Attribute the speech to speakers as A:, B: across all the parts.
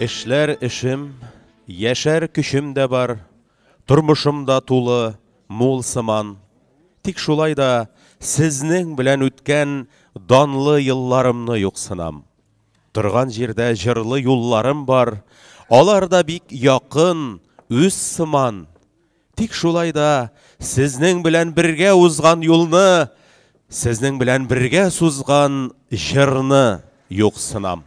A: Эшләр эшем, яшәр көчем дә бар, тормышым да тулы, мул сыман. Тик шулай да сезнең белән үткән данлы елларымны юксынам. Торган җирдә җырлы юлларым бар, алар да бик якын, үз сыман. Тик шулай да сезнең белән бергә узган юлны, сезнең белән бергә сузган җырны юксынам.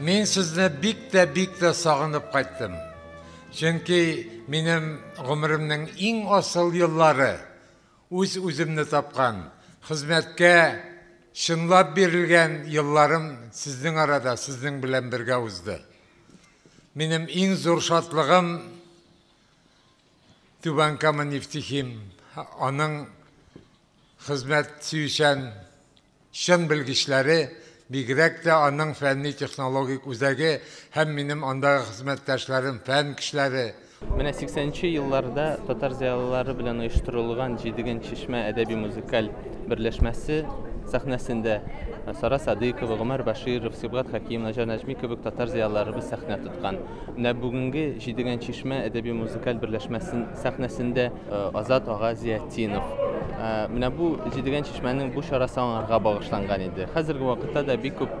B: Мин сезне бик тә бик тә сагынып кайттым. Чөнки минем гомеремнең иң асыл еллары үз үземне тапкан, хезмәткә чынлап бирелгән елларым сезнең арада, сезнең белән бергә узды. Минем иң зур шатлыгым Түбән Кама нефтехим аның хезмәт сөючән чын белгечләре, бигрәк тә аның фәнни-технологик үзәге һәм минем андагы хезмәттәшләрем, фән кешеләре, Менә сиксәнче
C: елларда татар зыялылары белән оештырылган Җидеген чишмә әдәби-музыкаль берләшмәсе сәхнәсендә Сара Садыйкова, Гомәр Баширов, Сибгат Хәким, Наҗар Нәҗми кебек татар зыялыларыбыз сәхнә тоткан. Менә бүгенге Җидегән чишмә әдәби-музыкаль берләшмәсен сәхнәсендә э, Азат ага Зиятдинов. Э, менә бу Җидегән чишмәнең бу чарасы аңарга багышланган иде. Хәзерге вакытта да бик күп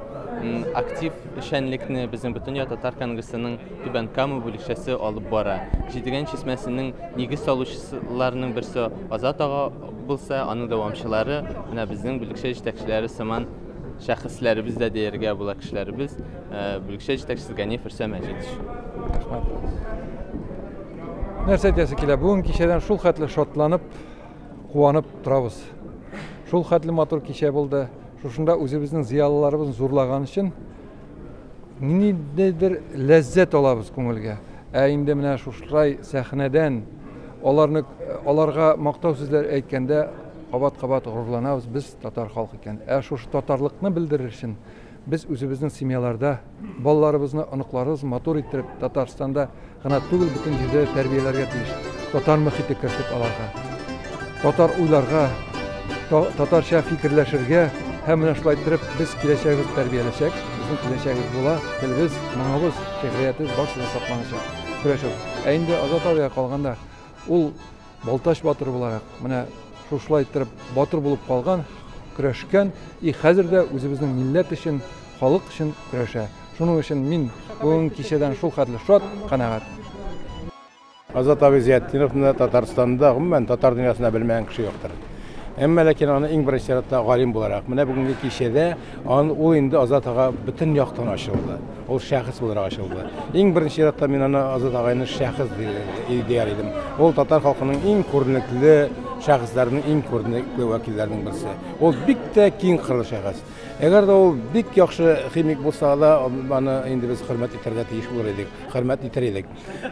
C: актив эшчәнлекне безнең Бөтендөнья татар конгрессының Түбән Кама бүлекчәсе алып бара. Җидегән чишмәсенең нигез салучыларының берсе Азат ага булса, аның дәвамчылары менә безнең бүлекчә җитәкчеләре сыман шәхесләребез дә дияргә була кешеләребез. бүлекчә җитәкчесе Ганиф Рөстәм Мәҗитович. Рәхмәт.
D: Нәрсә әйтәсе килә? Бүген кичәдән шул хәтле шатланып, куанып торабыз. Шул хәтле матур кичә булды. Шушында үзебезнең зыялыларыбызны зурлаган өчен ниндидер ләззәт алабыз күңелгә. Ә инде менә шушылай сәхнәдән аларны аларга мактау сүзләр әйткәндә кабат-кабат горурланабыз без татар халкы икән. Ә шушы татарлыкны белдерер өчен Без үзебезнең семьяларда балаларыбызны, оныкларыбыз матур иттереп, Татарстанда гына түгел, бөтен җирдә тәрбияләргә тиеш. Татар мөхите кертеп аларга. Татар уйларга, татарча фикерләшергә һәм менә шулай иттереп без киләчәгебез тәрбияләшәк. Безнең киләчәгебез була, телебез, моңыбыз, шигъриятебез барысы да сакланачак. Көрәшү. Ә инде Азат абыйга калганда, ул Балтач батыры буларак, менә шушылай иттереп батыр булып калган, көрәшкән и хәзер дә үзебезнең милләт өчен, халык өчен көрәшә. Шуның өчен мин бүгенге кичәдән шулхәтле шат, канәгать.
E: Азат абый Зиятдиновны Татарстанда, гомумән, татар дөньясында белмәгән кеше юктыр. Әмма ләкин аны иң беренче чиратта галим буларак, менә бүгенге кичәдә Ан, ул инде Азат ага бөтен яктан ачылды. Ул шәхес буларак ачылды. Иң беренче чиратта мин аны Азат агайны шәхес ди- дияр идем. Ул татар халкының иң күренекле шәхесләренең иң күренекле вәкилләренең берсе. Ул бик тә киң кырлы шәхес. Әгәр дә ул бик яхшы химик булса да, аны инде без хөрмәт итәргә тиеш булыр идек, хөрмәт итәр идек.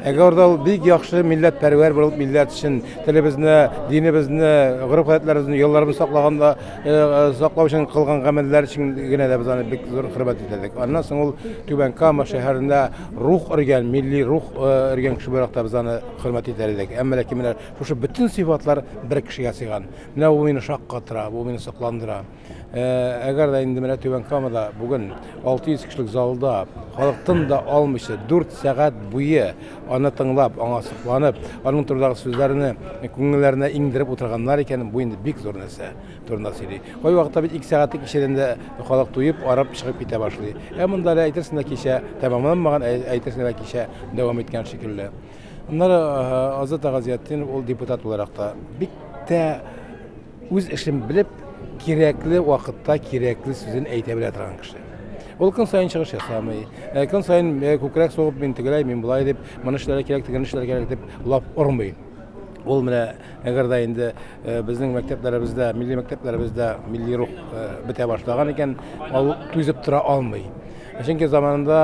E: Әгәр дә ул бик яхшы милләт пәрвәр булып, милләт өчен телебезне, динебезне, гореф-гадәтләребезне, ялларыбызны саклаганда, э, э, саклау өчен кылган гамәлләр өчен генә дә без аны бик зур хөрмәт итәдек. Аннан соң ул Түбән Кама шәһәрендә рух өргән, милли рух э, өргән кеше буларак та без аны хөрмәт итәр идек. Әмма ләкин менә шушы бөтен сыйфатлар бер кешегә сыйган. Менә бу мине шаккатыра, бу мине сокландыра. Әгәр дә инде менә Түбән Камада бүген 600 кешелек залда халык тын да алмыйча 4 сәгать буе аны тыңлап, аңа сокланып, аның турындагы сүзләрне күңелләренә иңдереп утырганнар икән, бу инде бик зур нәрсә турында сөйли. Кайвакытта бит 2 сәгатьлек ишелендә халык туеп, арып чыгып китә башлый. Ә монда әле әйтерсең лә кичә тәмамланмаган, әйтерсең лә кичә дәвам иткән шикелле. Аннары Азат Агазиятдинов ул депутат буларак та бик тә үз эшен белеп, кирәкле вакытта кирәкле сүзен әйтә белә торган кеше. Ул көн сайын чыгыш ясамый. Ә көн сайын э, күкрәк сугып мин тегеләй, мин болай дип, моны эшләргә кирәк, тегене эшләргә кирәк дип лап ормый. Ул менә әгәр дә инде э, безнең мәктәпләребездә, милли мәктәпләребездә милли рух э, бетә башлаган икән, ул түзеп тора алмый. Чөнки заманында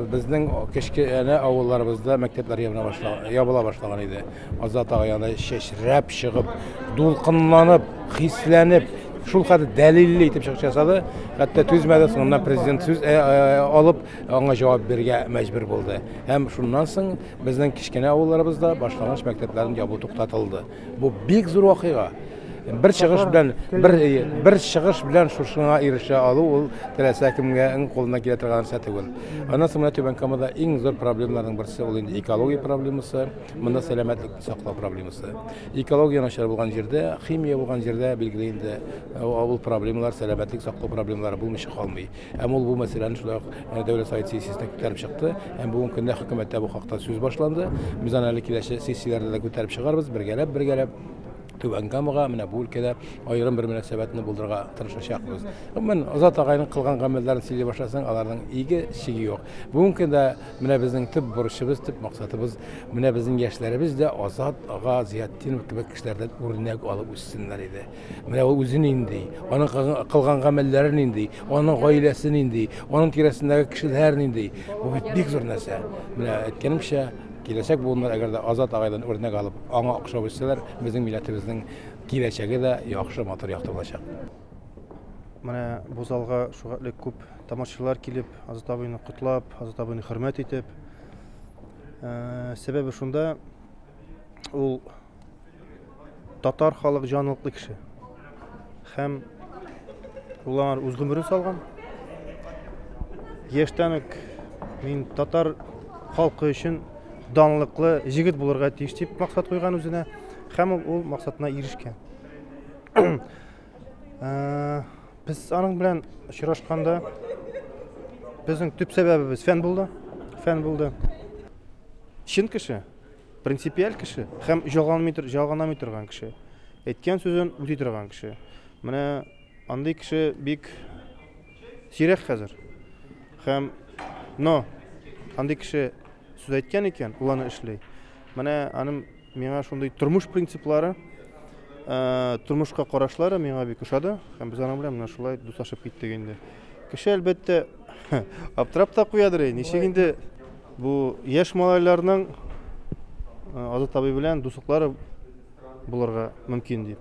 E: безнең кечкенә авылларыбызда мәктәпләр ябыла башлаган иде. Азат ага янына чәчрәп чыгып, дулкынланып, хисләнеп, шул хәтле дәлилле итеп чыгыш ясады. Хәтта түзмәде, соңыннан президент сүз э, э, алып, аңа җавап бирергә мәҗбүр булды. Һәм шуннан соң безнең кечкенә авылларыбызда башлангыч мәктәпләрен ябу туктатылды. Бу бик зур вакыйга. Бер чыгыш белән бер э, бер чыгыш белән шушыңа ирешә алу ул теләсә кемгә иң кулына килә торган нәрсә түгел. Аннан соң менә Түбән Камада иң зур проблемаларның берсе ул инде экология проблемасы. Монда сәламәтлекне саклау проблемасы. Экология начар булган җирдә, химия булган җирдә билгеле инде э, авыл проблемалар, сәламәтлек саклау проблемалары булмыйча калмый. Һәм ул бу мәсьәләне шулай ук э, дәүләт совет сессиясендә күтәреп чыкты. Һәм бүгенге көндә хөкүмәттә бу хакта сүз башланды. Без аны әле киләчәк сессияләрдә дә күтәреп чыгарбыз, бергәләп, бергәләп. Түбән Камага менә бу өлкәдә аерым бер мөнәсәбәтне булдырырга тырышачакбыз. Гомумән, Азат агайның кылган гамәлләрен сөйли башласаң, аларның иге чиге юк. Бүгенге көндә Менә безнең төп бурычыбыз, төп максатыбыз, менә безнең яшьләребез дә Азат ага Зыятдинов кебек кешеләрдән үрнәк алып үссеннәр иде. Менә ул үзе нинди, аның кылган гамәлләре нинди, аның гаиләсе нинди, аның тирәсендәге кешеләр нинди. Бу бит бик зур нәрсә. Менә әйткәнемчә, киләчәк буыннар әгәр дә Азат агайдан үрнәк алып, аңа охшап үссәләр, безнең милләтебезнең киләчәге дә яхшы, матур, якты булачак.
F: Менә бу залга шугатлек күп тамашачылар килеп, Азат абыйны котлап, Азат абыйны хөрмәт итеп. Э, сәбәбе шунда, ул татар халык җанлыклы кеше. Һәм ул аңар үз гомерен салган. Яшьтән үк мин татар халкы өчен данлыклы җегет булырга тиеш дип максат куйган үзенә һәм ул максатына ирешкән. Э, без аның белән очрашканда безнең төп сәбәбебез фән булды. Фән булды. Чын кеше, принципиаль кеше һәм җаганмый җаганамый торган кеше. Әйткән сүзен үти торган кеше. Менә андый кеше бик сирәк хәзер. Һәм но андый кеше сүз әйткән икән, ул аны эшли. Менә аның Миңа шундый тормыш принциплары, тормышка карашлары миңа бик ошады һәм без аның белән менә шулай дуслашып киттек инде. Кеше әлбәттә аптырап та куядыр, ничек инде бу яшь малайларның Азат абый белән дуслыклары булырга мөмкин дип.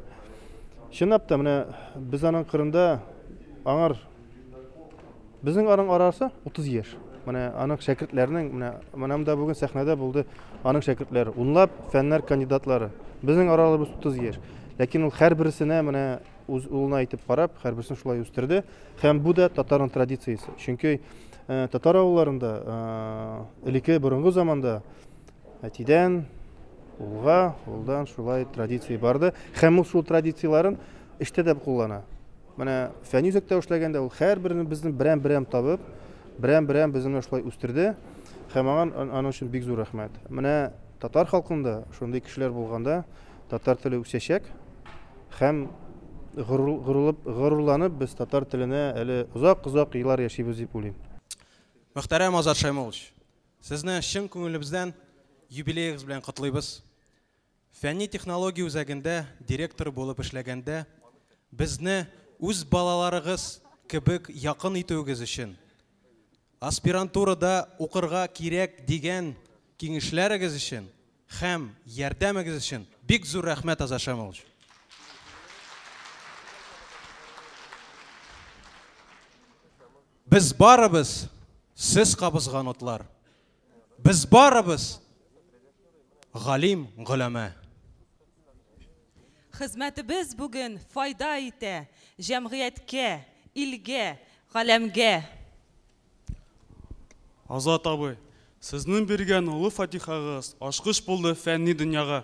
F: Чынлап та менә без аның кырында аңар Безнең аның арасы 30 яшь. Менә аның шәкертләренең менә менә монда бүген сәхнәдә булды аның шәкертләре. Унлап фәннәр кандидатлары. Безнең араларыбыз 30 яшь. Ләкин ул һәрберсенә менә үз улына әйтеп карап, һәрберсен шулай үстерде. Һәм бу да татарның традициясе. Чөнки э, татар авылларында э, элеке борынгы заманда әтидән улга, улдан шулай традиция барды. Һәм ул шул традицияләрен эштә дә куллана. Менә фәнни үзәктә эшләгәндә ул һәрберне безне берәм-берәм табып, берәм-берәм безне менә шулай үстерде һәм аңа аның өчен бик зур рәхмәт. Менә татар халкында шундый кешеләр булганда татар теле үсәчәк һәм горурлып, горурланып без татар теленә әле озак-озак еллар яшибез дип уйлыйм. Мөхтәрәм
G: Азат Шәймуллович, сезне чын күңелебездән юбилеегыз белән котлыйбыз. Фәнни-технология үзәгендә директор булып эшләгәндә безне үз балаларыгыз кебек якын итүегез өчен, аспирантурада укырга кирәк дигән киңешләрегез өчен һәм ярдәмегез өчен бик зур рәхмәт, Азат Шамилович! Без барыбыз сез кабызган утлар. Без барыбыз галим, голәмә.
H: Хезмәтебез бүген файда итә җәмгыятькә, илгә, галәмгә.
I: Азат абый, сезнең биргән олы фатихагыз ачкыч булды фәнни дөньяга.